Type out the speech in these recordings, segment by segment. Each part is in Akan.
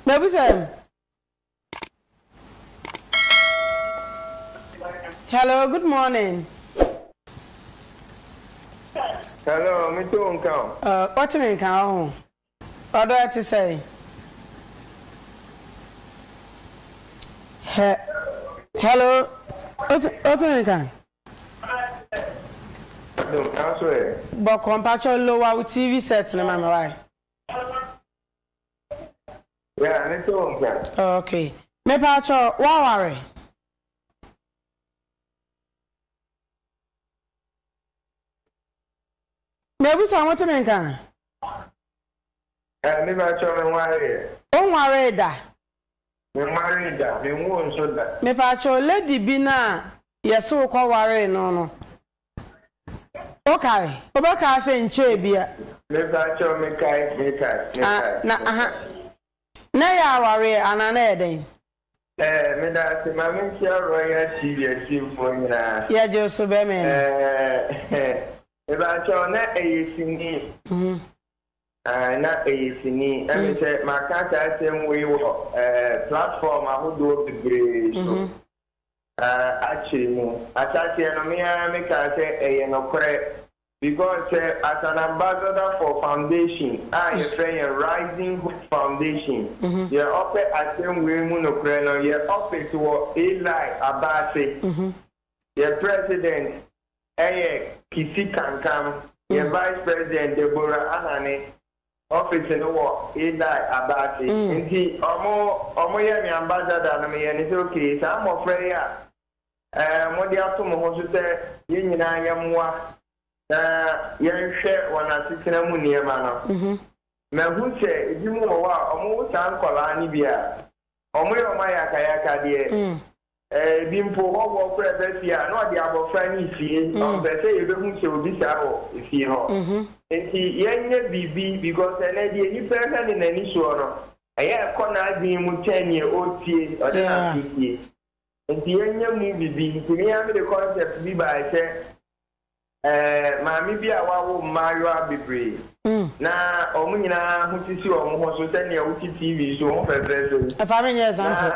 Mebusɛm. Hello, good morning. Hello, me to nka o. Uh, what me nka o? Ọdọ ẹ ti sẹ. He, hello, what me nka? Bọkọ mpatsọ lowa TV set ni ma mi wáyé. Yeah, me too nka. Okay. Me pa cho, wa ware? Me busa mo te me nka? Eh, me pa cho me ware. O ware da? Me ware da, me wo nso da. Me pa cho lady bi na yɛse wo kɔ ware no no. Wokae? Wobɛkaa sɛ nkyɛɛ bi a. Mepa kyɛw mekae, mekae, mekae. Ah, na, aha. Na ɛyɛ awareɛ anaa na ɛyɛ dɛn? Eh, meda ase, ma menkyia Royal TV atiefoɔ nyinaa. Yɛgye wo so bɛmɛn. Eh, mepa kyɛw na ɛyɛ sini. Mm. Ah, na ɛyɛ sini. Na mm. mesɛ maka saa asɛm wei wɔ eh, platform ahodoɔ bebree so. Mm -hmm. Na akyiri mu. Ahyɛaseɛ no me ara me kaa sɛ ɛyɛ nokorɛ because sɛ as an ambassador for foundation a yɛfrɛ yɛn Rising Hope Foundation yɛ ɔpɛ asɛm wei mu nokorɛ no yɛ office wɔ Eli Abase yɛ president ɛyɛ Kissi Kankam yɛ vice president Deborah Ahane Office no wɔ Idai Abasi nti ɔmo ɔmo yɛ me ambassador no me yɛ ne sɛ okay saa mmɔfra yi a ɛɛ mo de ato mo ho so sɛ yɛn nyinaa yɛ mmoa na yɛn hwɛ wɔn asetena mu nneɛma no mahu sɛ ebi mo wɔ hɔ a ɔmo wo saa nkɔlaa no bi a ɔmo yɛ ɔmo ayakayaka deɛ Ebi mpo hɔ wɔ kora ba fie a, na ɔde abɔfra no resie. Ɔmpɛ sɛ yɛbɛhu sɛ obi saa wɔ fie hɔ. Enti yɛnyɛ biribi because ɛnnɛ deɛ nipa hwɛ no n'ani soɔ no, ɛyɛ a ɛkɔ n'adwene mu kyɛn deɛ ɔretie, ɔde n'aso tie. Enti yɛnyɛ mu biribi. Enti me ara mede concept bi baeɛ sɛ, Maame bi a wawo mmaayewa bebree, na wɔn nyinaa ho sisi wɔn ho so sɛ nea wote TV so, ho fɛfɛɛfɛ yi. Ɛfa me nyɛ example.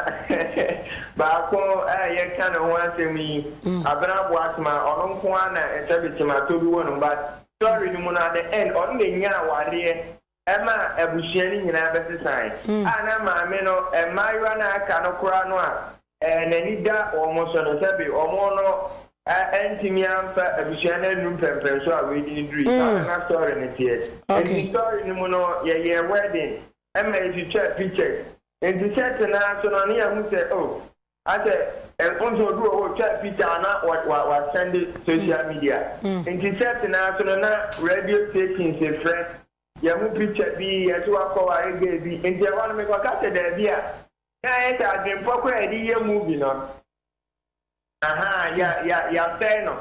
Na baako a yɛka ne ho asɛm yi, Abena Boatema, ɔno nko ara na ɛsɛ Betema Toduwon, but story no mu no, at the end, ɔno na enyaa awareɛ ɛma abusua no nyinaa bɛsesae, a na maame no, mmaayewa no a aka no koraa no a n'ani da wɔn so no, sɛbe wɔn no antumi amfa abusua no annu mpɛnprɛnso a wadi no duru yi. Saa na na story no teɛ. Enti story no mu no, yɛyɛɛ wedding ma yɛtwitwaa pictures. Enti sɛ tena ase no, na yɛahu sɛ, oh, Asɛ wohu sɛ obi wɔ hɔ otwaa picture a na wa wa sɛnde social media nti sɛ tenaa so no na radio stations frɛ yɛhu picture bi yɛse wakɔ ware girl bi nti ɛhɔ no mekɔ ka sɛ daabi a na ayɛ sɛ adwenpɔ koraa yɛde yɛ movie no ahaa ya ya yasɛe no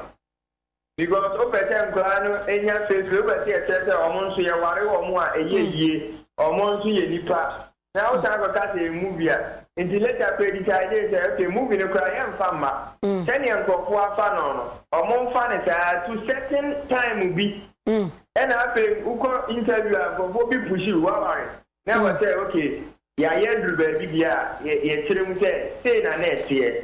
Because wopɛ sɛ nkwadaa no nya fefre, wopɛ sɛ yɛkyerɛ sɛ wɔn nso yɛware wɔn a ɛyɛ yie, wɔn nso yɛ nipa. Na wosan kɔka sɛ ɛyɛ movie a. Nti later kora yɛdecidee sɛ okay movie no koraa yɛmfa mma. Sɛdeɛ nkurɔfoɔ afa no no, wɔmfa no saa ara to certain time bi. Ɛna afei wokɔ interview a nkurɔfoɔ bi push wo, woaware. Na ɛwɔ sɛ okay yɛayɛ aduru baabi deɛ a yɛkyerɛ mu sɛ sei na na ɛteɛ.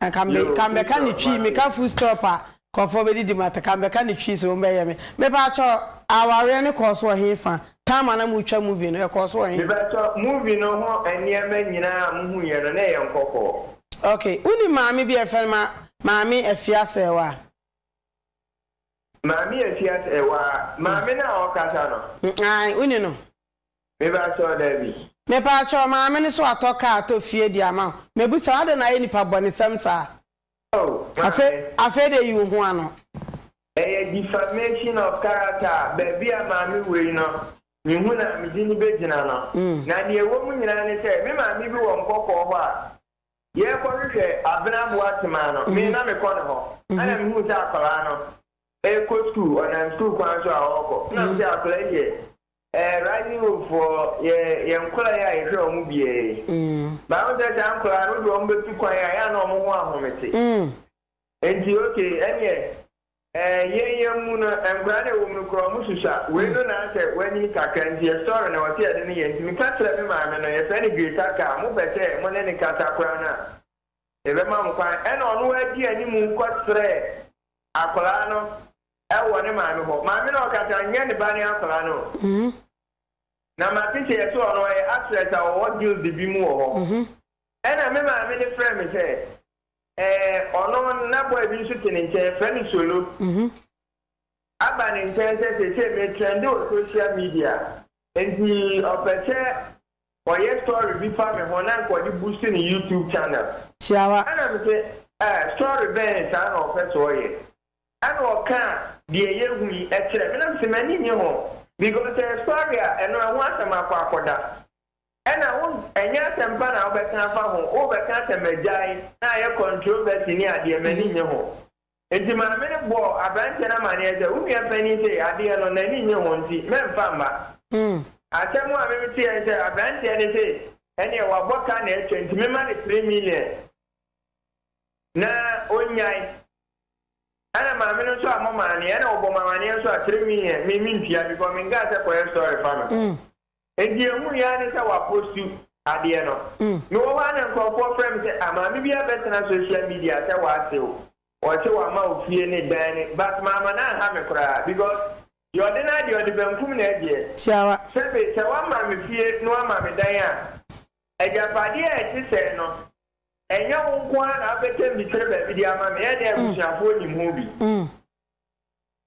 Na ka me ka mebɛka ne twi meka full stop a nkurɔfoɔ bɛdidi ma te ka mebɛka ne twi so wɔn bɛyɛ me mepakyɛw awareɛ no kɔɔ so wɔ he fa time a na mo twa movie no ɛkɔɔ so wɔ he. Mepakyɛw movie no ho nneɛma nyinaa a mo huiɛ no na ɛyɛ nkɔkɔɔ. Ok wo nim maame bi a yɛfrɛ no ma maame afiase ɛwa. Maame afiase ɛwa maame no a ɔkasa no. Ae wo ni no. Me ba sɔɔ daabi. Mepakyɛw maame no so watɔ car atɔ fie de ama wo mebisa wo adɛn na ayɛ nipa bɔnesɛm saa Oh maame. Afei de yi wo ho ano. Ɛyɛ defamation of character a baabi a maame wɔ yi no mehu no a mede no bɛgyina no na deɛ ɛwɔ mu nyinaa ne sɛ me maame bi wɔ nkɔkɔɔ hɔ a yɛkɔ hwehwɛ abena aboa tema no me na mekɔ ne hɔ ɛna mehuu sɛ akwadaa no ɛkɔ school ɔnam school kwan so a ɔkɔ na mesɛ akwadaa yi yɛ Eh rising hope foɔ yɛ yɛ nkora yi a yɛ hwɛ ɔmo biaa yi but ho sɛ saa nkora no wode ɔmo bɛ tu kwan a yɛ a na ɔmo ho ahomete nti ok ɛneɛ eh yɛn yɛn mu no nkora na ɛwɔm no kora ɔmo susua wei no na asɛ wanyini kakra nti yɛ story na wɔsɛ yɛde no yɛ nti meka kyerɛ me maame no yɛ frɛ no Greta kaa mo pɛ sɛ mo ne no kasa kora no a yɛ bɛ ma mo kwan ɛna ɔno wa di animu kɔ srɛ akora no wɔ ne maame hɔ. Maame no ɔkasa nyɛ ne ba ne akwadaa no o. Na mate sɛ yɛse ɔno ɔyɛ actress a ɔwɔ guild bi mu wɔ hɔ. Ɛna me maame no frɛɛ me sɛ ɛɛ ɔno na boy bi nso te ne nkyɛn yɛfrɛ no Solo aba ne nkyɛn sɛ seesei me trɛnde wɔ social media nti ɔpɛ sɛ ɔyɛ story bi fa me ho na nka ɔde boost ne YouTube channel. Tiawa. Ɛna me se ɛɛ story bɛn saa na ɔpɛ sɛ ɔyɛ. Ɛna ɔkaa deɛ yɛahu yi kyerɛɛ me na mese m'ani nnye ho because ɛyɛ sɔre a ɛno ɛho asɛm akɔ akɔda. Ɛna wo ɛnyɛ asɛm pa na wobɛka afa ho, wobɛka asɛ magyae na ayɛ controversy ne adeɛ, m'ani nnye ho. Nti maame no bɔɔ aberanteɛ no amaneɛ sɛ, wo nua panin sei adeɛ no n'ani nnye ho nti mɛmfa mma. Asɛm a meteɛ ne sɛ aberanteɛ no se ɛneɛ wabɔ ka na atwa nti memma no three million. na ɔnnyae. Ɛna maame no nso a mɔ maa neɛ ɛna ɔbɔ mo amaneɛ nso a kyerɛ me yɛ me me ntua because me nkaa sɛ kɔyɛ story fa no nti ɛhu yɛ ne sɛ wa postu adeɛ no me wɔ hɔ a na nkorɔfoɔ frɛ me sɛ ah maame bi abɛtena social media sɛ wa se wo ɔse wa ma ofie ne dan ne but maama no anha me koraa because deɛ ɔde no adeɛ ɔde bankum na agyeɛ Tiawa. sɛbe sɛ wa ma me fie na wa ma me dan a agyapadeɛ a ɛte sɛɛ no Ɛnyɛ wo nko ara na abɛtam bi kyerɛ baabi de ama me, ɛnde abusuafoɔ nim ho bi.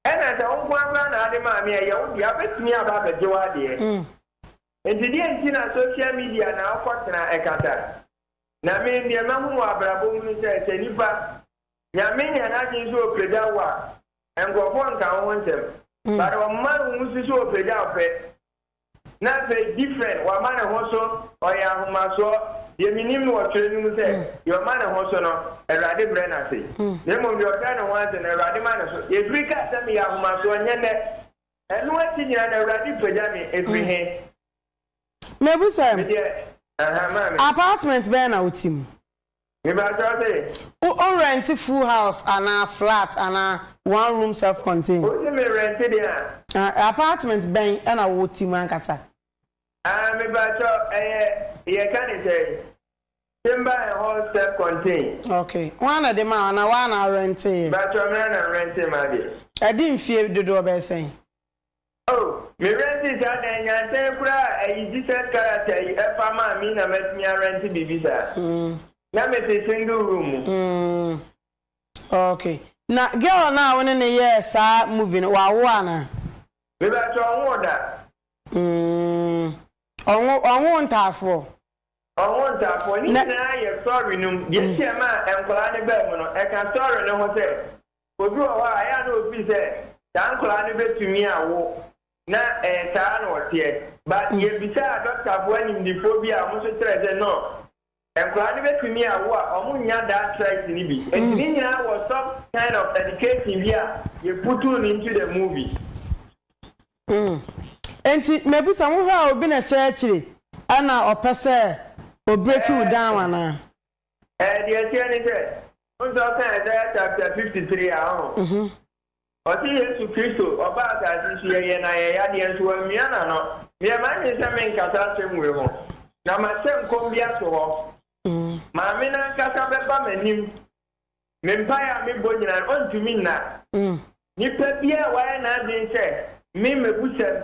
Ɛnna sɛ wo nko ara koraa na ade maa me a, ɛyɛ wo dea, wɔbɛtumi aba abɛgye w'adeɛ. Enti deɛn nti na social media na wokɔtena ɛkata? Na me, deɛ mahunu wɔ abrabɔ mu ne sɛ, sɛ nipa, Nyame nya n'adwene sɛ ɔpagya wo a, nkurɔfoɔ nka wo ho nsɛm. But ɔmma wo nsi so ɔpagya wo pɛ, Na afei different wama ne ho so ɔyɛ ahomasoɔ deɛ menim no wɔ twerɛ no mu sɛ deɛ ɔma ne ho so no Awurade brɛ no ase na mmom deɛ ɔbrɛ ne ho ase no Awurade ma no so yɛfiri kaa sɛ meyɛ ahomasoɔ nyɛ nnɛ ɛno akyi nyinaa na Awurade pagya me ɛfiri he Mebisa, medeɛ ahaa maame. apartment bɛn na wote mu? Mepakyɛw se. Wo o rɛnte full house anaa flat anaa one room self contain. Wo se me rɛnte deɛ a. Ah apartment bɛn ɛna wo te mu ankasa. Ah mepakyɛw ɛyɛ yɛ ka ne sɛn chamber and hall self contain. Ok wo ara na ɛde maa wo anaa wo ara na wo rɛntee yɛ. Mepakyɛw me ara na me rɛntee maa deɛ. Ɛde mfie dodoɔ bɛyɛ sɛn. Oh me rɛnte saa dan yi ansan koraa a ɛyi Jesus character yi ɛfa maa me na matumi arɛnte biribi saa na mete single room mu. Mm ok na girl no a wo ne no yɛɛ saa movie no wawo anaa? Me pakyɛ ɔnwoo da. Mm ɔnwo ɔnwoo ntaafoɔ? Ɔnwoo ntaafoɔ ne nyinaa yɛ story no mu deɛ nti ɛmaa nkwadaa no baa mu no ɛka story no ho sɛ Obi wɔ hɔ a, ɛyɛ a na ofii sɛ saa nkwadaa no betumi awo, na ɛyɛ saa ara na wɔteɛ. But yebisaa dɔktafo animdefoɔ bi a wɔn nso kyerɛɛ sɛ no, nkwadaa no betumi awo a wɔnnya that trait no bi. Enti ne nyinaa wɔ some kind of education bi a yɛputuu no into the movie. Enti mebisa, wohwɛ a obi na ɛhyɛ akyiri na ɔpɛ sɛ ɔbreaki wo down anaa? Deɛ ɛteɛ ne sɛ, wohu sɛ ɔka Isaiah chapter 53 a, ɔho? Mhm. Ɔse Yesu Kristo, ɔbaa asase so, yɛyɛɛ no ayɛyadeɛ, nso wammia n'ano. Meɛ m'adwene sɛ merenkasa asɛm wei ho, na mahyɛ nkɔm bi ato hɔ. Mm. Maame no ankasa bɛba m'anim. Me mpaeɛ a mebɔ nyinaa no, ɔntumi nna. Mm. Nipa biara a wayɛ n'adwene sɛ me mɛbusɛm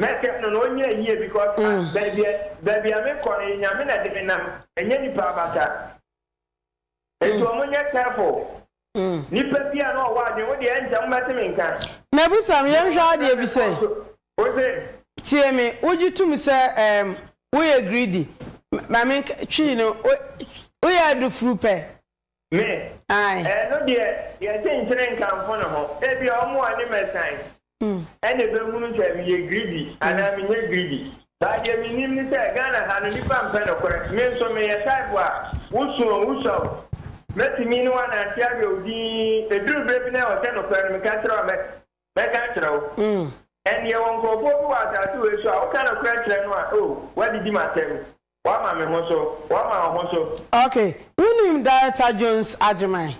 Mɛsɛm no na ɔnyɛ yie because ah baabi a baabi a mekɔ no Nyame na de me nam ɛnyɛ nipa abasa Nti ɔmo nyɛ careful Nipa bi a na ɔwɔ adwen wo deɛ ɛnkyɛ mobɛte me nka Mɛbusa me yɛnhwɛ adeɛ bi sɛ Wo se. Tie me wogye tom sɛ ɛɛm woyɛ greedy ma menka twii no woyɛ adufuru pɛ Me, Ɛno deɛ yɛnte nkyere nkamfo ne ho. Ebia wɔn a wɔne me resan na ɛbɛhunu sɛ meyɛ greedy anaa menyɛ greedy. But deɛ menim ne sɛ Ghana ha no nnipa mpɛ nokorɛ. Me nso meyɛ type a wo su o, wo sua o, mɛtumi ne wo anante awerɛw dinn. Ɛduru berɛ bi na ɛwɔ sɛ nokorɛ no meka kyerɛ wo a, mɛka akyerɛ wo. Ɛnde yɛwɔ nkorɔfoɔ bi wɔ asase wei so a woka nokorɛ kyerɛ no a, oh, woadidi m'asɛm. Wama me ho so, wama wo ho so. Ok, wo nim Director Jones Agyeman?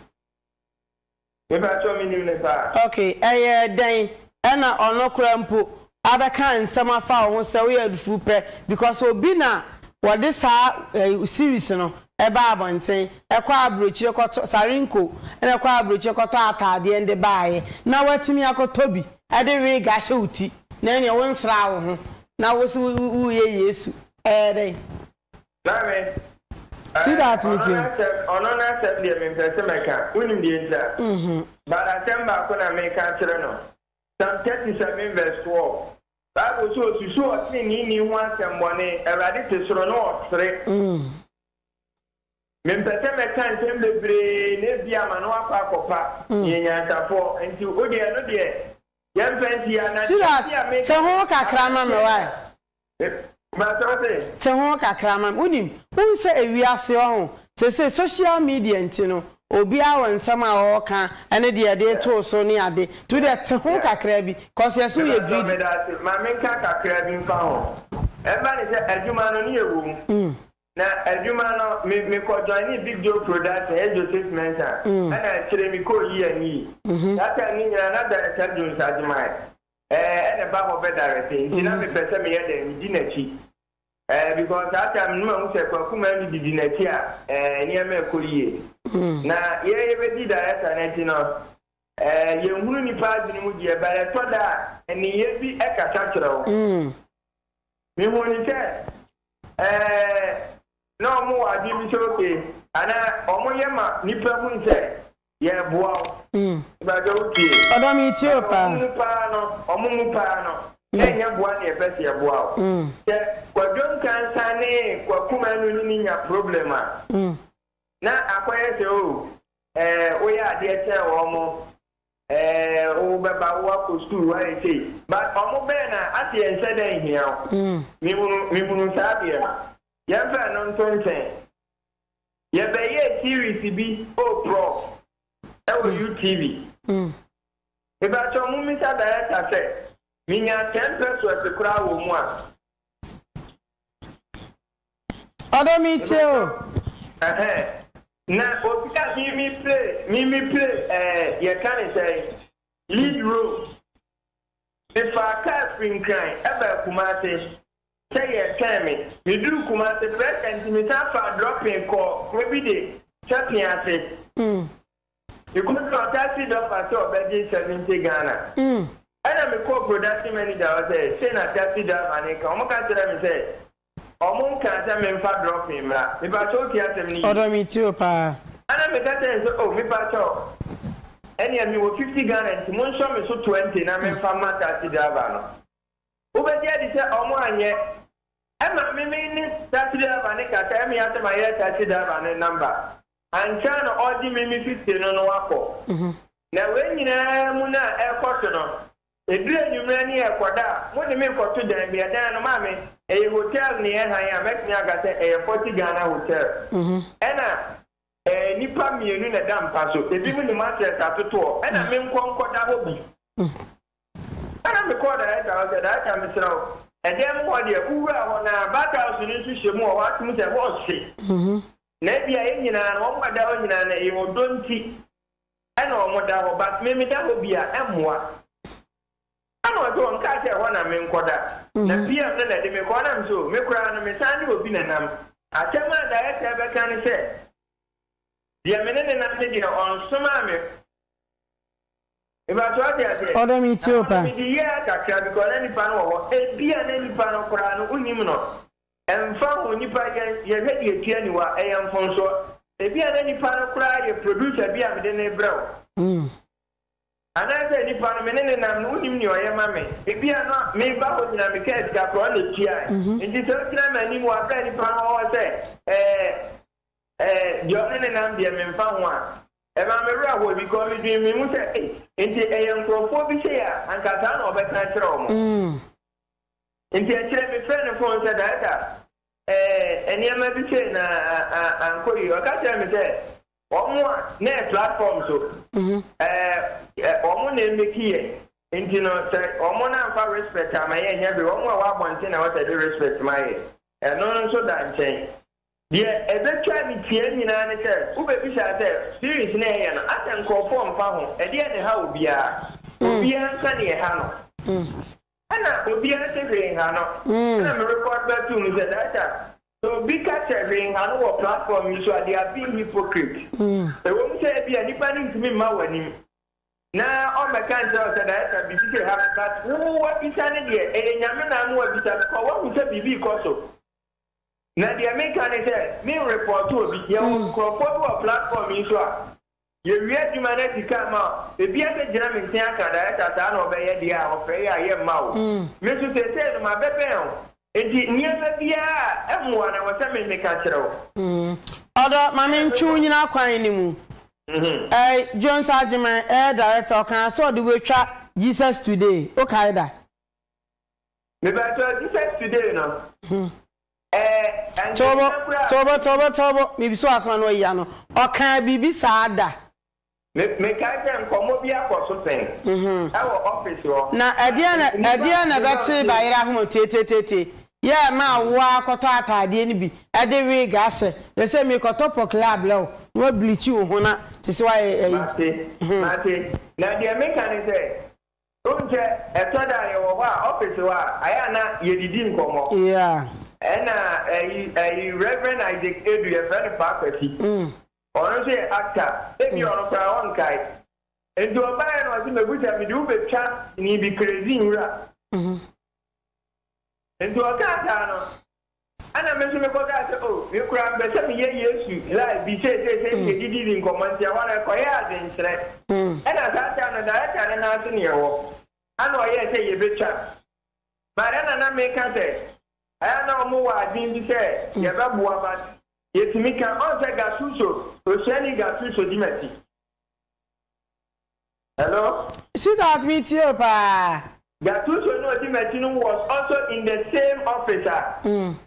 Me pakyɛw me nim no paa. Ok, ɛyɛ dɛn ɛna ɔno koraa mpo abɛka nsɛm afa wo ho sɛ woyɛ adufuu pɛ because obi na wɔde saa series no ɛbaa abɔnten ɛkɔɔ abrokyire kɔtɔ, Sarinko na ɛkɔɔ abrokyire kɔtɔɔ ataadeɛ nde baaeɛ na watumi akɔtɔ bi ɛde wig ahyɛ wo ti na ɛneɛ wo nsraa wo ho na wose wo reyɛ Yesu Ɛyɛ dɛn? Maame, Sit down ɛ, ɔno n'asɛm, ɔno n'asɛm deɛ mempɛ sɛ mɛka. Wonim deɛ nti a? But asɛm baako na meka akyerɛ no. Psalm 37 verse 12, Bible se osusu ɔteneneeni ho asɛmmɔne, Awurade te soro na ɔsere. Mempɛ sɛ mɛka nsɛm bebree na ebia ama no akɔ akɔpa. Meyɛ nyansafoɔ, nti wodeɛ ɛno deɛ yɛmfa nsi ha. Na deɛ nti a meka. Sit down, te ho kakra ma me, why? Te ho kakra ma me. Wonim, wohu sɛ ewiase ɔho, seesei social media nti no, obiara wɔ nsɛm a ɔɔka ne deɛ ɛdee too so ne ade, nti wodeɛ te ho kakra bi, cos yɛse woyɛ greedy. Mepatwɔ medase, ma menka kakra bi mfa ho. Ɛmma ne sɛ adwuma no ne yɛwɔ mu, na adwuma no me mekɔ joinee Big Joe Production, ɛyɛ Joseph Mensah, ɛna akyire mekɔɔ Yi Ani Yi. Saa time no nyinaa na Director Jones Agyemang eh Ɛna ɛba hɔ bɛ direct Nti na me pɛ sɛ me yɛ dɛn me di n'akyi eh Because saa time no mahu sɛ Kwaku maa me didi n'akyi a eh Nneɛma ɛkɔ yie Na yɛ yɛ bɛ di director no akyi no eh Yɛ nhunu nipa adwene mu deɛ But ɛtɔ da a nneyɛɛ bi kasa kyerɛ wo Me hu ne sɛ eh Na ɔmo wɔ adwene bi sɛ okay Anaa ɔmo yɛ ma nipa hunu sɛ Yɛɛboa wo. Mpakyɛ wo tie. Ɔdɔ me tie o paa. Ɔmo mu paa no, ɔmo mu paa no, yɛnyɛ boa ne yɛpɛ se yɛboa wo. Sɛ Kwadwo Nkansah ne Kwaku Manu ne ne nya problem a, na akɔyɛ sɛ o eh woyɛ adeɛ kyɛn wɔmo eh wo bɛba wo akɔ school woayɛ sei but ɔmo bɛɛ na ase yɛn nhyɛ da nhia wo. Mehunu mehunu saa deɛ no. Yɛnfa ɛno nto nkyɛn. Yɛbɛyɛɛ series bi oh prof ɛwɔ mm. UTV. Mm. Mebakyɛ mo misa director sɛ minya 10 pesos koraa wɔ mu a. Ɔdɔ mi tie o. Na obi a mimi play mimi play ɛɛ eh, yɛka ne sɛ lead role. Mefa kaa firi nkran ɛbɛ Kumase. sɛ yɛretwɛn me. Meduu Kumase Prɛsa nti mesan faa drɔpin kɔɔ kuro bi de kyɛ pee ase. Mekɔduu hɔ taxi dɔ fa sɛ ɔbɛgye seventy Ghana. Ɛna mekɔɔ production manager hɔ sɛ sei na taxi driver no reka. Wɔka kyerɛɛ me sɛ wɔn nkaa sɛ memfa drɔpin mmra. Mepakyɛw wotie asɛm no yie? Ɔdɔ metie o paa. Ɛna meka kyerɛɛ no sɛ oh mepakyɛw ɛnea mewɔ fifty Ghana nti monsɔ me so twenty na memfa mma taxi driver no. Wobɛgye adi sɛ ɔmo anyɛ. Ɛma me me ne taxi driver no kasa ɛme asɛ ma yɛ taxi driver no number ankyɛ a na ɔregye me me fifty no no akɔ na wei nyinaa mu no a ɛrekɔso no ɛduru anwummerɛ ne ɛrekɔda a mo de me rekɔto dan bi ɛdan no maame ɛyɛ hotel ne yɛ hann a mɛtumi aka sɛ ɛyɛ forty Ghana hotel ɛna ɛɛ nipa mmienu na ɛda mpa so ebi mo ne mattress atotoɔ ɛna me nkɔ nkɔda hɔ bi. Ɛnna mekɔɔ darekta hɔ sɛ, Darekta, mesrɛ wo, ɛdan mu hɔ deɛ, wowura hɔ, na Barthouse no nso hyɛ mu wɔ hɔ, ate mu sɛ ɛhɔ ɔhye, na ebia yɛn nyinaa no, wɔn a ɛda hɔ nyinaa no, ɛyɛ ɔdɔ nti na wɔda hɔ, but me, meda hɔ bi a, ɛmmoa. Ɛnna ɔse, Wɔn kaa sɛ ɛhɔ na menkɔda, na PM no na ɛde me kɔɔ. Ɛnna mese, Oh, me koraa no, mesan ne obi na nam. Asɛm a darekta rebɛka ne sɛ, Deɛ me ne no nam ne deɛ, ɔnsomaa me. Mepakyɛw ɔte aseɛ? Ɔdɔ me tie o paa. Mede year kakra because na nipa no wɔ hɔ ebia na nipa no koraa no wonim no ɛnfa ho nipa yɛn yɛhwɛ deɛ ɛtua aniwa ɛyɛ mfomsoɔ ebia na nipa no koraa yɛ producer bi a mede no rebrɛ wo anaasɛ nipa no me ne no nam no wonim nea ɔyɛ ma me ebia na meba hɔ nyinaa mekaa sika koraa ɔna ɛtuae nti sɛ wogyina m'anim wɔ aberɛ a nipa no wɔ hɔ sɛ ɛɛ ɛɛ deɛ ɔne no nam deɛ menfa ho a Ɛmaa me werɛ hoo because me dwen me ho sɛ ei nti ɛyɛ nkorɔfoɔ bi sei a anka saa na ɔbɛka akyerɛ wɔn. Nti akyire me frɛɛ no phone sɛ Daɛta ɛɛ nneɛma bi sei na ankɔ yie ɔka kyerɛɛ me sɛ wɔn a na ɛyɛ platform so ɛɛ wɔn na ɛmeki yɛn nti no sɛ wɔn no amfa respect ama yɛn nyɛ hwee wɔn a ɛwɔ abɔnten na ɛwɔ sɛ ɛde respect ma yɛn ɛno nso da nkyɛn Deɛ ɛbɛtwa ne tiaa nyinaa ne sɛ wobɛbisa sɛ, Series no a ɛyɛ no, asɛ nkorɔfoɔ mfa ho? Ɛdeɛn na ɛha obiara? Obiara nka deɛ ɛha no. Ɛna obiara se hwee nha no. Ɛna me record ba too mu sɛ, Daakye a, sɛ obi ka sɛ hwee nha no wɔ platform yi so a, they are being hypocrite. Ɛwɔ mu sɛ ebia nipa no ntumi mma w'anim na ɔmmɛka nkyerɛ wo sɛ, Daakye a, biribi sei ha me, but wo wabisa ne deɛ, ɛyɛ Nyame na ama wabisa, because wahu sɛ biribi rekɔ so. Na deɛ meka ne sɛ me nrepɔɔto obi. Yɛwɔ nkurɔfoɔ bi wɔ platform yi so a, yɛwie adwuma no asi kan ma wɔn. Ebi asɛ gyina me nkyɛn aka Director saa na ɔbɛyɛ deɛ a ɔfrɛ yɛ a yɛmma o. Me nso seesei no mabɛbɛn wo nti nneɛma biara a ɛmmoa no ɛwɔ sɛ me meka kyerɛ wo. Ɔdɔ ma me ntwe wo nyina kwan no mu. Ɛɛ Jones Agyeman ɛyɛ Director ɔkaa sɛ ɔde wo atwa Jesus Today wokae da? Mepakyɛw Jesus today no ɛɛ Toobo ɛnkenka koraa. toobo toobo toobo mebisa wo asɛm ano ayi ano ɔkaa biribi saa da. Me mekae sɛ nkɔmmɔ bi akɔso pɛn ɛwɔ office hɔ Na ɛdeɛn na nnipa ɛdeɛn na ɛbɛ tee ba yere ahoma tietietie yɛ ɛma awo ara kɔtɔ ataadeɛ no bi ɛde wig ahyɛ yɛ sɛ mi kɔtɔ pɔkele abrɛ wo na wa bleach wo ho na te sɛ wa yɛ ɛyi Mate hmm. mate na deɛ meka ne sɛ Wohu sɛ ɛtɔ da a yɛwɔ hɔ a, ɔfese hɔ a, ayɛ a na yɛdidi nkɔmmɔ. Yeah. Ɛna ɛyi, ɛyi Rev. Isaac Adu, yɛfrɛ no Paa Kwasi. Ɔno nso yɛ actor. Ebia ɔno koraa ɔnkae. Nti ɔbaeɛ na ɔse mɛbusa mede wo bɛtwa sini bi, Crazy Nwura. Nti ɔkaa saa no, Ɛnna me nso mekɔkae sɛ, O, me koraa mepɛ sɛ meyɛ Yesu live bi seesei sɛ yɛn gyidi di nkɔmmɔ. Enti ɛhɔ no, ɛkɔyɛɛ adwenkyerɛ. Ɛnna saa da no, darekta no nan ase na yɛwɔ, ɛnna ɔyɛɛ sɛ yebetwa. But ɛnna na meka sɛ, Ɛyɛ a na wɔwɔ adwene bi sɛ yɛbɛboa but yɛtumi ka. Ɔn sɛ Gattuso, Osuani Gattuso di m'akyi. Hello. Sweetheart me tie wo paa. Gatuso no odi makyi no was also in the same office a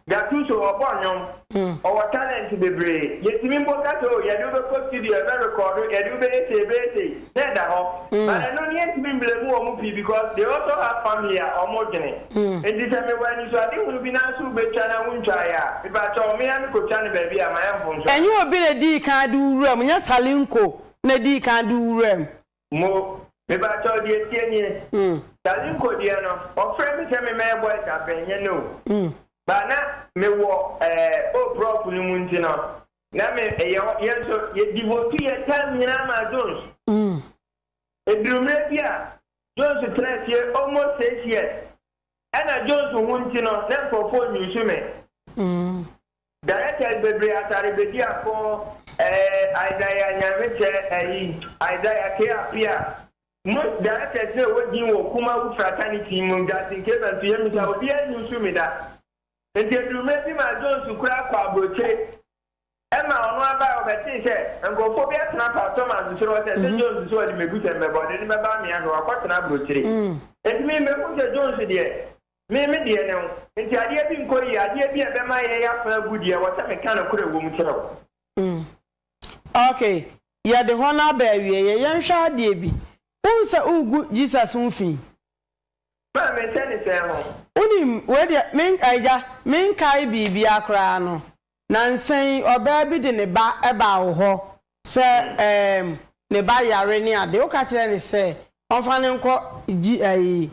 Gatuso ɔbɔ nnwom ɔwɔ talent bebree yɛtumi mpo ka sɛ oh yɛde wo bɛkɔ studio ɛbɛ record wo yɛde wo bɛyɛ sei ɛbɛyɛ sei na ɛda hɔ but ɛno no yɛntumi mblame wɔn pii because they also have family a wɔn dwene nti sɛ mewɔ anisoadehunu bi nanso wobɛtwa na wontwaeɛ a mepakyɛw me ara mekɔtwa no baabi a mayɛ mfomsoɔ. Ɛnyɛ obi na dii kan de wo wuram nyɛ Salinko na dii kan do wuram. Mo, mebaakyɛw deɛ ɛteɛ nie, Charlie Nko deɛ no, wɔfrɛ me sɛ memmɛyɛ boys a bɛnyɛ no o. But na mewɔ eh, oh prɔf no mu nti no, na me yɛ hɔ, yɛn nso yɛ devote yɛn time nyinaa maa Jones. Ɛduru mmerɛ bi a, Jones tena asie almost six years, ɛna Jones ho nti no, na nkorɔfoɔ use me. Directors bebree atare bedi ako eh Isaiah Nyanmekyɛ ɛyi Isaiah K Appiah Most directors no a ɛwɔ din wɔ Kumawu fraternity mu Justin Keba nso yɛ mmisa obiara nni nso mi da Nti aduru mmerɛ bi maa Jones koraa kɔɔ abrokyire ɛmaa ɔno abaɛ ɔbɛtee sɛ nkorɔfoɔ bi atena Pa Thomas soro hɔ sɛ sɛ Jones sɛ ɔde mɛbu sɛ mmɛba ɔde no bɛba amea hwɛ wakɔtena abrokyire Nti me mɛhunu sɛ Jones deɛ Me, me deɛ ne wo. Enti adeɛ bi nkɔ yie, adeɛ bi a ɛbɛma yɛn asan abu deɛ, ɛwɔ sɛ meka nokorɛ wɔ mu kyerɛ wo. Mm. Ok, yɛde hɔ no aba awieeɛ. Yɛnhwɛ adeɛ bi. Wohu sɛ woregu Jesus ho fi? Ma'am, ɛhyɛ ne sɛn ho? Wonim, wei deɛ, me, Agya, menkae biribiara koraa no, nnansa yi ɔbaa bi de ne ba baa wo hɔ sɛ ɛɛm, ne ba yare ne adeɛ. Woka kyerɛɛ no sɛ ɔmfa no nkɔ G, ayi,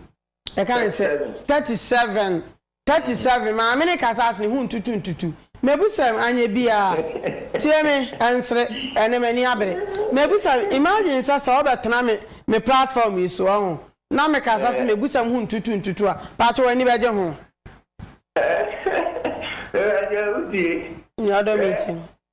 Ɛka ne sɛ, Thirty seven. Thirty seven, Maame no kasa ase, ne ho ntutu ntutu. Mabusɛm, anyɛ biaa. Tie me, ɛnsere, ɛne m'ani abere. Mabusɛm, imagine sɛ sɛ wobɛtena me me platform yi so, wahu, na mekasa se mabusɛm ho ntutu ntutu a, paatwo w'ani bɛgye ho? Awurade a, wotie. Nea ɔdɔ me nti.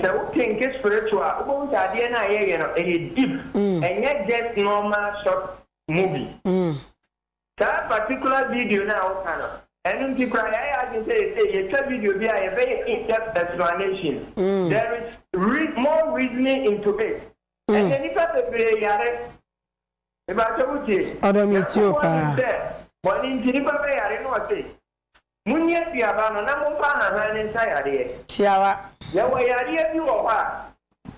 Sɛ wo kenke spiritual a wobɛhu sɛ adeɛ no a yɛ yɛ no ɛyɛ deep ɛnyɛ just normal short movie. Saa particular video no a wo ka no ɛno nti koraa yɛayɛ adwene sɛ yɛsɛ yɛtwa video bi a yɛbɛyɛ in depth explanation there is reas more reasoning into it ɛnɛ nipa bebree yare mepakyɛ wo tie Nyankopɔn nim sɛ bɔne nti nipa bɛyare na ɔse Monni aduaba no na momfa ahahan no nsa yareɛ. Tiara. Yɛwɔ yareɛ bi wɔ hɔ a,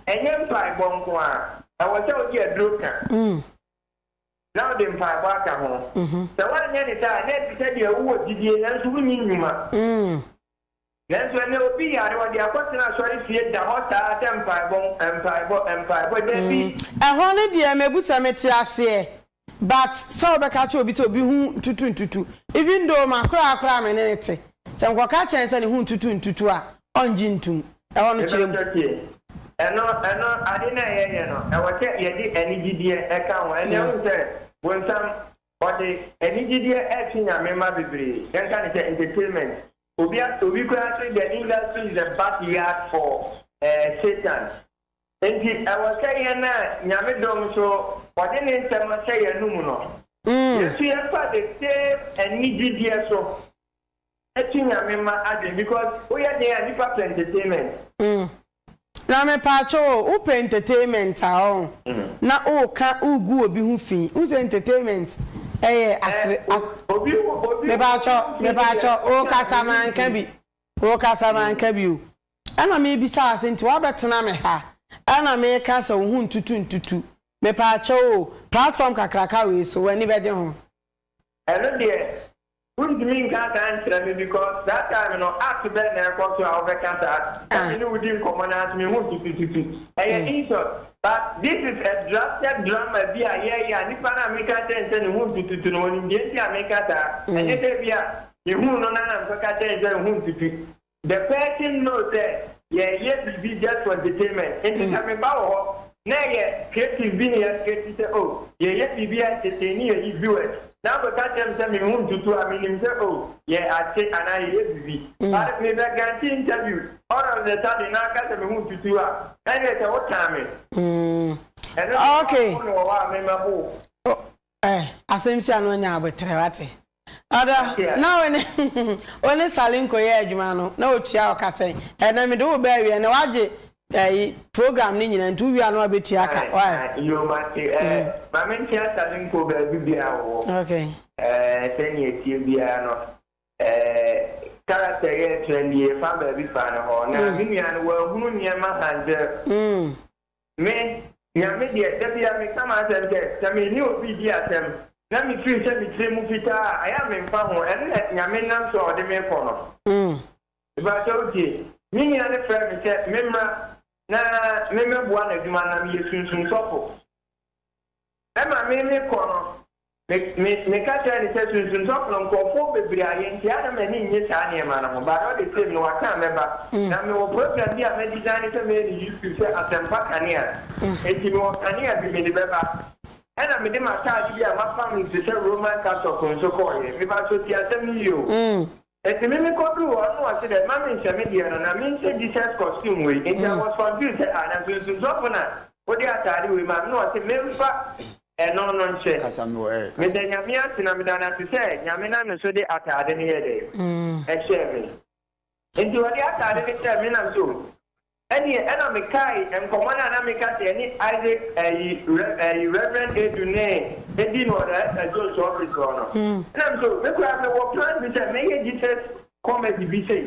ɛnyɛ mpaebɔ nko ara, ɛwɔ sɛ wode aduro ka, na wode mpaebɔ aka ho. Sɛ woanyɛ no saa a, na ɛte sɛ deɛ wowɔ gyidie nanso wonni nnwuma. Nanso ɛnnɛ, obi yare, ɔde akɔtena asɔrefie da hɔ saa sɛ mpaebɔ, mpaebɔ, mpaebɔ. Dabi. Ɛhɔ no deɛ mebu sɛ mete aseɛ but sɛ wobɛka akyerɛ obi sɛ obi ho ntutu ntutu even though m'akoraa koraa me ne no te, sɛ nkɔka kyerɛ no sɛ ne ho ntutu ntutu a ɔngye ntom. Ɛhɔ no kyerɛ mu. Mepakyɛ tie. Ɛno, ɛno, ade no a yɛyɛ no, ɛwɔ sɛ yɛde anigyedeɛ ɛka ho. Ɛnnɛ wohu sɛ bonsam, ɔde anigyedeɛ ɛtwe Nyame mma bebree, yɛnka no sɛ entertainment, Obi a obi koraa say the industry is a back yard for Satan nti ɛwɔ sɛ yɛn a Nyame dom so ɔde ne nsɛm ahyɛ yɛn anum no yɛn nso yɛ fa the same anigyedeɛ so to Nyame mma adwene because wo yɛ den a nipa pɛ entertainment. Na mepaakyɛw o, wo pɛ entertainment a ɔho na wo ka wo gu obi ho fi, wo sɛ entertainment ɛyɛ asere as Mepaakyɛw, mepaakyɛw, wo kasa manka bi, wo kasa manka bi o, ɛna me bisa wo ase nti wabɛ tena me ha, ɛna me ka sɛ wo ho ntutu ntutu, mepaakyɛw o, platform kakraka wei so w'ani bɛgye ho? Ɛno deɛ Wontumi nka saa nkyerɛ me because saa time no act bɛn na ɛkɔ so a wobɛka saa sɛ me ne wo di nkɔmmɔ no ara so mehu tutututu. Ɛyɛ insult but this is a drafted drama bi a yɛyɛ a nipa no a meka kyerɛ no sɛ ne ho ntututu no ɔnim deɛ nti a meka saa ɛnyɛ sɛ ebia mehuu no no ara na mekɔka kyerɛɛ no sɛ ne ho ntutu. The person know sɛ yɛɛyɛ biribi just for entertainment nti sɛ me ba wɔ hɔ na ɛyɛ creative bi na yɛ create sɛ oh yɛɛyɛ biribi a entertain ne yɛyi viewers na wo bɛka kyerɛ me sɛ me ho ntutu a menim sɛ oh yɛ ate anaa yɛɛyɛ biribi but me bɛ guarantee interview all of the sudden na aka sɛ me ho ntutu a ɛnneɛ sɛ wo tan me ɛno deɛ woapo me wɔ hɔ a me mɛpo wo. Eh, asɛm si a na ɔnya aboterɛ, wate? Ɔdɔ, na wo ne, wo ne Sally nkɔyɛ adwuma no, na ɔtua wo ka sɛn? Ɛnnɛ mede wo ba awie, na woagye, ayi, program no nyinaa, nti wowie a na wabɛtua ka, Ae, why? ae, yoo, mate, eh, Mm. ma menkyea Sally nkɔ baabi biara a ɔwɔ. Okay. Eh, sɛnea ɛteɛ biara no, eh, character yi a ɛtena nie, yɛfa baabi faa no hɔ, na Mm. me nua no, wanhunu nneɛma hantɛre. Mm. Me, Nyame deɛ, da biara meka m'asɛm sɛ, sɛ me ne obi redi asɛm, na me firi sɛ me tiri mu fitaa a, ayɛ a memfa ho, ɛno na Nyame nam so a ɔde me rekɔ no. Mepakyɛ wo tie. Me nua no frɛɛ me sɛ memmra na memmɛboa no adwuma, na meyɛ sunsum sɔfo. Ɛna me me kɔ no me me me ka kyerɛ no sɛ sunsum sɔfono nkorɔfoɔ bebree ayɛ nti a na m'ani nnye saa nneɛma no ho but all the same no waka a mɛba na me wɔ program bi a mɛ design sɛ mɛyɛ no YouTube sɛ asɛmpa kanea nti me wɔ kanea bi me de bɛba ɛna me de m'ataade bi a m'apam no te sɛ Roman Catholic nso kɔɔyɛ me ba so tie asɛm no yie o. Ntsi me mekɔduu hɔ no nna ɔse dɛ mma mennhyɛ me deɛ no na menhyɛ Jesus costume wei, ntsi I was confused sɛ ah na nsonsonsɔfo na wode ataade wei maa me, nna ɔse memfa ɛno no nhyɛ. Meda Nyame ase na meda no ase sɛ Nyame nam ne so de ataade no yɛɛ dɛn? Ɛhyɛɛ me. Ntsi wɔde ataade no hyɛɛ me na mese oh. Ɛnneɛ ɛna mekae nkɔmmɔ no a na meka sɛ yɛne Isaac ayi Rev ayi Reverend Adu Nee di no wɔ Director Jones office hɔ no. Ɛna mese oh, me koraa mewɔ plans bi sɛ mɛyɛ Jesus comedy bi sei.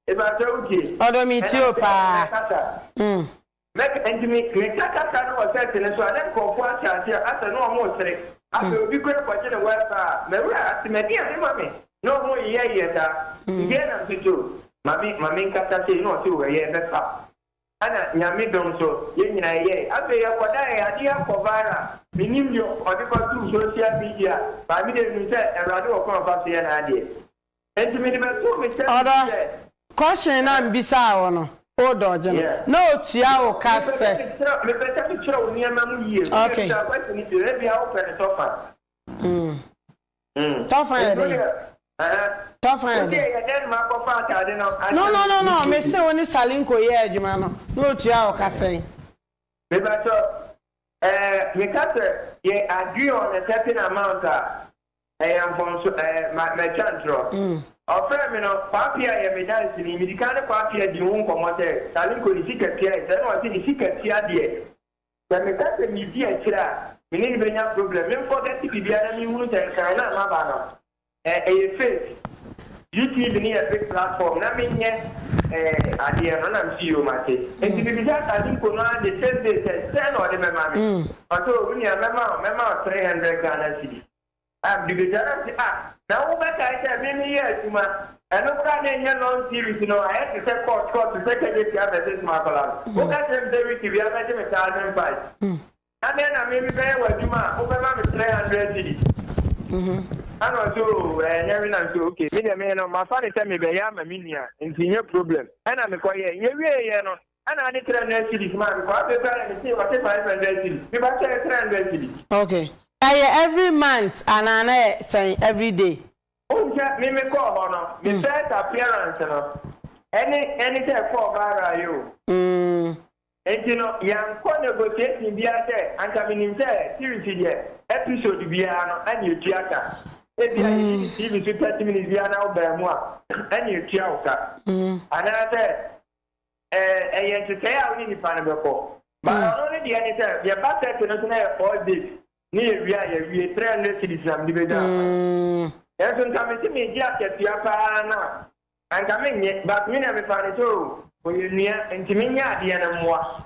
Mepakyɛw wotie? Ɔdɔ me tie o paa. Ɛna mese mɛkasa. Mɛka enti me meka kasa no wɔ set no so a na nkurɔfoɔ ahyɛ aseɛ asɛ na wɔresere. Afei obi koraa kɔgye ne wifi a, Mawura ase, madi a mema me. No ho nyɛ yɛ da ndeɛ na nso too mame ma me nkasa sei na ɔse o ɛyɛ ɛbɛfa ɛna nyame dom so yɛ nyina ɛyɛe afei ɛkɔdaeɛ adeɛ akɔ viral menim deɛ ɔde kɔ too social media by me deɛ menim sɛ awurade wɔ kwan ɔfa so yɛ n'adeɛ nti mede bɛtoo me service mu sɛ. Question no a mebisaa wo no wo dodge no na ɔtua wo ka sɛ. Mepɛ sɛ mekyerɛ wo nneɛma mu yie, wodeɛ bisa question no bio, ebia wopɛ no sɛ ɔfa. Tɔfan yɛ dɛn? Tɔfan yɛ dɛn? No no no no me se wo ne Salinko yɛ adwuma no na otua wo ka sɛn? Mepakyɛw ɛɛ me ka sɛ yɛ agree on a certain amount a ɛyɛ mfomso ɛɛ ma matwa ntorɔ. Ɔfrɛɛ me no Kwaa Pia yɛ me danseni medi kan ne Kwaa Pia dii ho nkɔmmɔ sɛ Salinko ne sika tua yɛ sɛɛ na ɔse ne sika tua deɛ Sɛ meka sɛ medi akyire a, me ne no bɛnya problem. Me nfɔgɛte biribiara na menhunu sɛ nkan no a maba no, eh, ɛyɛ fake. UTV no yɛ big platform na menyɛ, eh, adeɛ no. Ɛna mese, Yoo, mate. Enti mebisa Asadenkɔ no ara the same day sɛ, sɛn na ɔde bɛma me? Ɔse, Oh, me nua, mɛma wo, mɛma wo three hundred Ghana cedis. Biribi da no ase a, na wobɛkae sɛ me meyɛɛ adwuma. Ɛno koraa na ɛnyɛ long series no, ayɛ te sɛ court, court te sɛ Kejetia vs Makola no. Woka kyerɛ me sɛ Ricky biaa bɛgye me saa a, memfae. Adɛn na me mebɛyɛ w'adwuma a wobɛma me 300 cedis? Ɛna ɔse oo ɛnyɛ hwe na nso okay, me deɛ me no mafa no sɛ mebɛyɛ ama me nua nti nyɛ problem. Ɛna mekɔyɛe. Yɛwieeɛ no, Ɛna ɔde three hundred cedis maa me, kɔ afei koraa na mesee ɔte five hundred cedis, me ba kyɛɛ three hundred cedis. Ok, na ɛyɛ every month anaa na yɛ sɛn every day? Wohu sɛ me me kɔɔ hɔ no, me first appearance no, ɛne ɛne sɛ ɛkɔɔ viral yi o. Mm. Enti no, yɛankɔ negotiation biara sɛ anka menim sɛ series yi deɛ, episode biara no, ɛne ɛtua ka. Ebia yɛyi no TV so thirty minutes biara na wobaa mu a, ɛne ɛtua wo ka. Mm. Anaasɛ ɛyɛ nhyehyɛe a wo ne nipa no bɛkɔ. But mm. ɔno ne deɛ ne sɛ yɛba church no so na yɛ four days ne yɛwie a yɛwie three hundred cities na mede bɛnya akwan. Mm. Nanso nka mete megye akatua paa no a anka menyɛ but me na mefa no sɛ o ɔyɛ nnua nti menyɛ adeɛ no mmoa.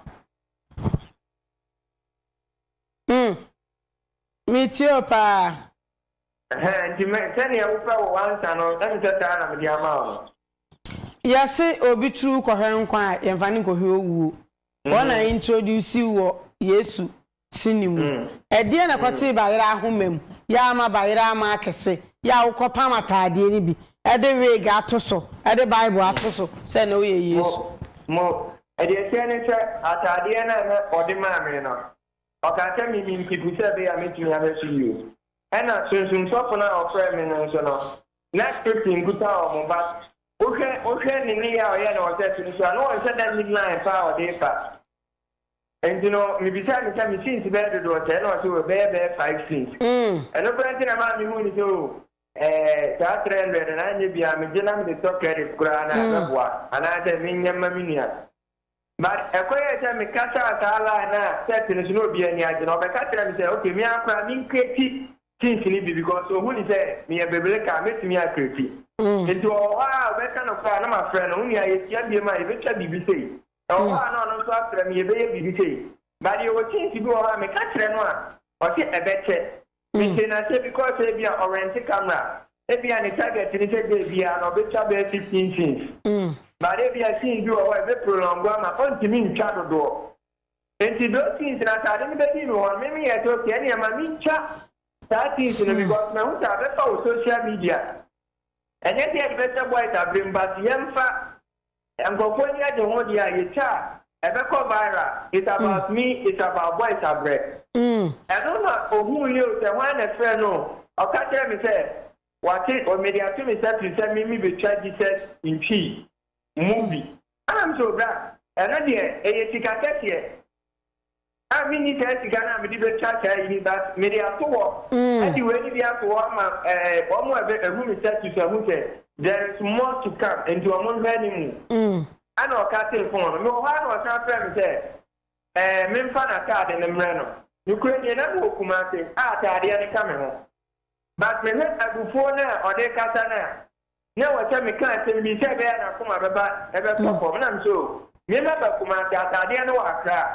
Mm. Metie o paa. Ɛhɛɛ nti me sɛdeɛ wopɛ wo answer no ɛm sɛ saa na mede ama wo no. Yɛse obi tru kɔhwɛ nkwa a yɛnfa no nkɔhwɛ owuo. Wɔn na introduce wo wɔ Yesu sini mu. Ɛdeɛ na ɛkɔtee bayerɛ ahoma mu yɛ a ama bayerɛ ama akɛse yɛ a wokɔ pam ataadeɛ no bi de wig ato so de bible ato so sɛ na woyɛ Yesu. Mo, mo, deɛ ɛteɛ ne sɛ ataadeɛ no a na ɔde maa me no Ɔkaa sɛ mimim pipi sɛ ɛbɛyɛ a mɛtumi ahwɛ so yie. Ɛna Sunsum Sɔfo no a ɔfrɛɛ me no nso no, na Christy nkuta wɔn, but wohwɛ wohwɛ ne nneyɛɛ a ɔyɛɛ no wɔ church no so a, na ɔnhyɛ da nnim line pa a ɔde reba. Nti no, mebisaa no sɛ me sins bɛyɛ dodoɔ sɛɛ? Ɛna ɔse oh, ɛbɛyɛ bɛyɛ five sins. Ɛno koraa nti na ɛmaa mehuu no sɛ oh, eh, saa three hundred no anyɛ biaa megye na mede tɔ credit koraa na ɛbɛboa, anaasɛ menyɛ mma me nua. But ɛkɔyɛɛ sɛ me kasaa saa line no a set no so na obiara ani agye no ɔbɛka kyerɛɛ me sɛ ok me ara koraa me ncreati jeans no bi because ohu no sɛ meyɛ bebeleka a mɛtumi acreati nti ɔwɔ hɔ ara a ɔbɛka no koraa a na mafrɛ no wo nua yɛhyia biom a yɛbɛtwa biribi sei ɛwɔ hɔ a na ɔno nso afrɛ me yɛbɛyɛ biribi sei but yɛwɔ jeans bi wɔ hɔ a meka kyerɛ no a ɔse ɛbɛkyɛ Me te nase because ebia ɔ rent camera ebia ne target ne sɛ day biaa no ɔbɛtwa bɛyɛ 15 scenes but ebia scene bi wɔ hɔ a ɛbɛ prolong ama ɔntumi ntwa dodoɔ nti those scenes no ataade no bɛdi no hɔ no me meyɛ sɛ okay ɛneɛ ma mentwa saa scenes no because mahu sɛ abɛfa wɔ social media ɛnyɛ sɛ yɛde bɛhyɛ boys abrem but yɛmfa Nkurɔfo ani agye ho deɛ a yɛtwa a ɛbɛkɔ viral it's about me it's about boys abrɛ ɛno na ɔhuu yɛ o sɛ hwan na ɛfrɛ no o ɔka kyerɛ me sɛ wate o mede ato me nsa firi sɛ me me bɛtwa Jesus ntwii movie ɛna me sɛ o bra ɛno deɛ ɛyɛ sika kɛseɛ. A Minni saa sika no a mede betwa saa yi ni, but mede ato hɔ de wei no bi ato hɔ ama wɔn a wɔahu me status no ahu sɛ there is more to come, enti wɔnhwɛ ne mu. Ɛnna ɔkatee fon no. Mewɔ hɔ ara na ɔsan frɛɛ me sɛ memfa n'atade no mmrɛ no. Nokorɛ nie, na mewɔ Kumasi a atadeɛ no ka me ho. But mehwɛ abufuo no a ɔde rekasa no a, na ɛwɔ sɛ meka asɛm bi sɛ ɛbɛyɛ a n'akoma bɛba ɛbɛtɔ fam na me sɛ o me mɛba Kumasi ataadeɛ no wɔ Accra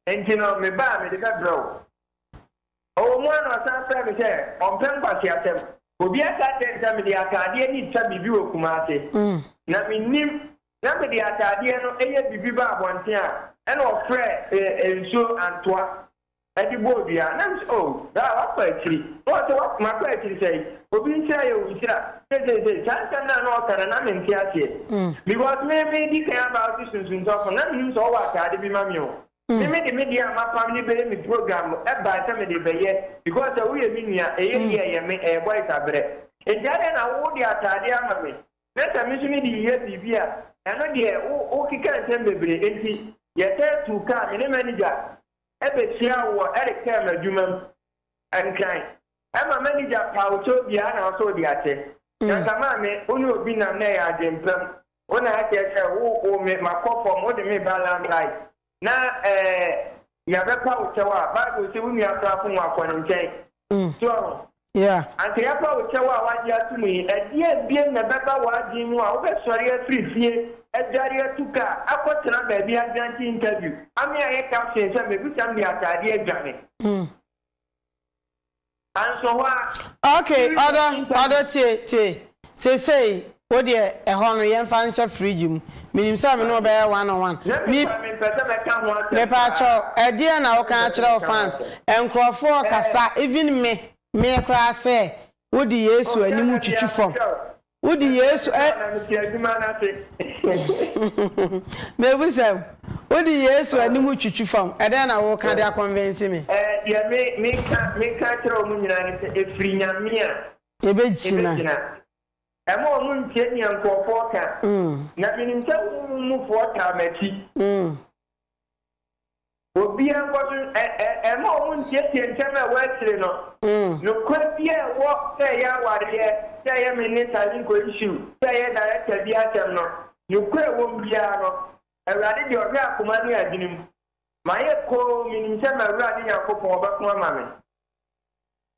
nti no meba a mede bɛbrɛ wo ɔwɔ mu a na ɔsan frɛ me sɛ ɔmpɛ nkwaseasɛm obi aka akyerɛ ne sɛ mede ataadeɛ ne twa biribi wɔ Kumasi na mennim na mede ataadeɛ no yɛ biribi ba abɔnten a ɛna ɔfrɛ nsuo antoa de bɔɔ dua. Na mise, Oh, Ra, woakɔ akyiri. Na ɔse, What? Makɔ akyiri sɛn? Obi nhyira yɛ wo nhyira. Seiseisei, saa nsɛm no a na ɔka no, na mente aseɛ. Because me, medi kan aba wo se sunsumsɔfo no, na mennim sɛ ɔwɔ ataade bi ma me o. Me, mede me deɛ a mapam no bɛyɛ me program no bae sɛ mede bɛyɛ, because sɛ woyɛ me nua, ɛyɛ yie, ɛyɛ me, ɛyɛ boys aberɛ. Enti adɛn na wo, wode ataade ama me, na sɛ me nso mede reyɛ biribi a, ɛno deɛ, wo, wokeka nsɛm bebree. Enti yɛsan tuu kaa, me ne manager. bɛhyiaa wo wɔ Eric Thelm adwuma mu. Ɛntwɛn. Ɛma m'anigya paw kyɛw biara na ɔsɔ wo de akyɛ. Nyansa maa me, wo ne obi nam na ɛyɛ adwempa mu. Wo na akyerɛ sɛ wo wo me ma kɔ fam, wode me ba Lamb Light. Na ɛɛ, nea bɛpa wo kyɛw a, Bible se wo nua koraa fom a, kɔ ne nkyɛn. So ahu? Yeah. Anka yɛafa wo kyɛw a woagye atom yi, ɛdeɛn biom na ɛbɛba w'adwene mu a wobɛsɔre afiri fie, adware atu ka, akɔtena baabi aguarantee interview? Ame ayɛ caption sɛ mebisa m de ataadeɛ adwane. Mm. Anso hɔ a. Okay, ɔdɔ, ɔdɔ tie, tie. Seesei, wo deɛ, ɛhɔ no, yɛmfa nhyɛ fridge mu. Menim sɛ me ne wo bɛyɛ one on one. Me, Mepaakyɛw, ɛdeɛn na woka akyerɛ wo fans? Nkorɔfoɔ kasa, even me, me koraa sɛ, wode Yesu anim twitwi fam. Wode Yesu a Mebisa wo, wode Yesu anim twitwi fam, ɛdeɛn na woka de a convince me? Deɛ me, meka, meka kyerɛ wɔn nyinaa ne sɛ, ɛfiri Nyame a. Yebegyina. Mma wɔn nntie nea nkurɔfoɔ ka, na menim sɛ wo mu mufoɔ taa m'akyi. Obiara nkɔ so, ɛ-ɛ-ɛ, mma wɔn nntietie nsɛm a ɛwɔ akyire no. Nokorɛ biara a ɛwɔ sɛ ɛyɛ awareɛ, sɛ ɛyɛ me ne Sarinko issue, sɛ ɛyɛ Director bi asɛm no, nokorɛ a ɛwɔ mu biara no, Awurade deɛ ɔhwɛ akoma ne adwene mu. Mayɛ komm, menim sɛ m'Awurade Nyankopɔn ɔbɛko ama me.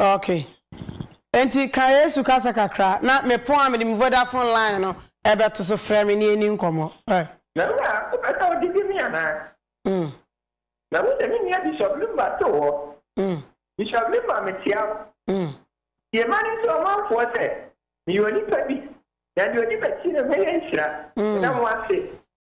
Okay. Enti ka Yesu kasa kakra na me phone a mede me Vodafone line no ɛbɛto so frɛ me na yɛnni nkɔmmɔ. Ɛ. Na wo a, wopɛ sɛ wogye di me anaa? Mm. Na wo ne me nua Bishop Lumba too hɔ. Mm. Bishop Lumba, mekyea wo. Mm. Tie ma ne nkyerɛ ɔmanfoɔ sɛ meyɛ onipa bi, na deɛ ɔdi m'akyi no mɛyɛ nhyira. Mm. Meda mo ase.